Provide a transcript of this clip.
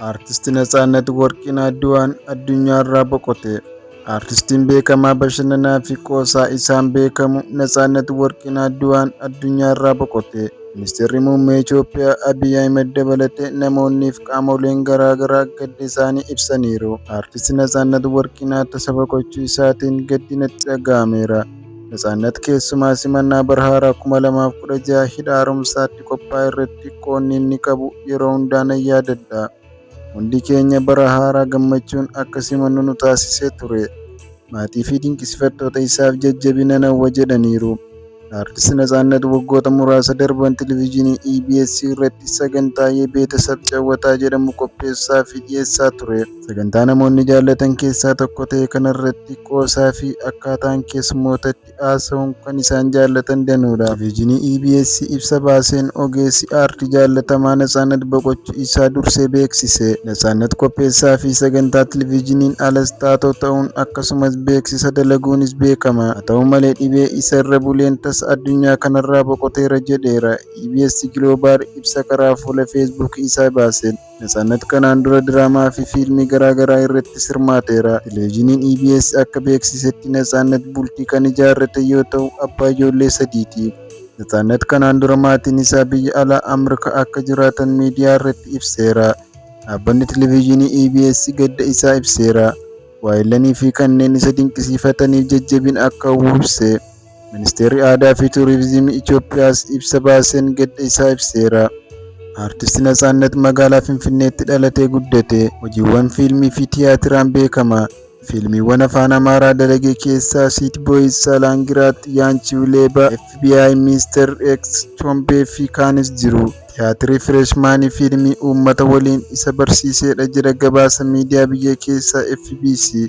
Artisti Natsaannat Warqiin Adduwaan addunyaarraa boqote. Artistiin beekamaa bashannanaa fi qoosaa isaan beekamu Natsaannat Warqiin Adduwaan addunyaarraa boqote. Ministeerri Muummee Itoophiyaa Abiy Ahimad dabalatee namoonnii fi qaamoleen garaagaraa gadda isaanii ibsaniiru. Artisti Natsaannat Warqiin Atta saba gochuu isaatiin gaddi natti dhaga'ameera. Natsaannat keessumaa simannaa bara haaraa 2016 hidha haaromsaatti qophaa'e irratti qoonni inni qabu yeroo hundaa nan yaadadha. Hundi keenya bara haaraa gammachuun akka simannu nu taasisee ture. Maatii fi dinqisifattoota isaaf jajjabina nan hawwa jedhaniiru. Artist Natsaannat waggoota muraasa darban televizyiinii EBS irratti sagantaa Yebeetasab Cawwataa jedhamu qopheessaa fi dhiyeessaa ture. Sagantaa namoonni jaallatan keessaa tokko ta'e kanarratti qoosaa fi akkaataan keessummootatti haasa'uun kan isaan jaallatan danuudha. Televizyinii EBS ibsa baaseen ogeessi aartii jaallatamaa Natsaannat boqochuu isaa dursee beeksise. Natsaannat qopheessaa fi sagantaa televizyiniin alas taatoo ta'uun akkasumas beeksisa dalaguunis beekama. Haa ta'u malee dhibee isa irra buleen tasa addunyaa kanarraa boqoteera jedheera. EBS Global ibsa karaa fuula Facebook isaa baaseen. Natsannat kanaan dura diraamaa fi fiilmii garaa garaa irrattis hirmaateera. Televizyiniin EBS akka beeksisetti Natsaannat bultii kan ijaarrate yoo ta'u abbaa ijoollee sadiiti. Natsaannat kanaan dura maatiin isaa biyya alaa Amrka akka jiraatan miidiyaa irratti ibseera. Dhaabbanni Televizyinii EBS gadda isaa ibseera. Waayillan fi kanneen isa dinqisiifataniif jajjabina akka hawwu ibse. Ministeerri Aadaa fi Tuuriizimii Itoophiyaas ibsa baaseen gadda isaa ibseera. Aartisti Natsaannat magaalaa Finfinneetti dhalatee guddate. Hojiiwwan fiilmii fi tiyaatiraan beekama. Fiilmiiwwan afaan Amaaraa dalage keessaa Siit Booyiz, Saalaangiraat, Yaanchiw Leeba, FBI, Miister X, Chombee fi kaanis jiru. Tiyaatirri Fireeshmaanii fiilmii uummata waliin isa barsiiseedha jedha gabaasa miidiyaa biyya keessaa FBC.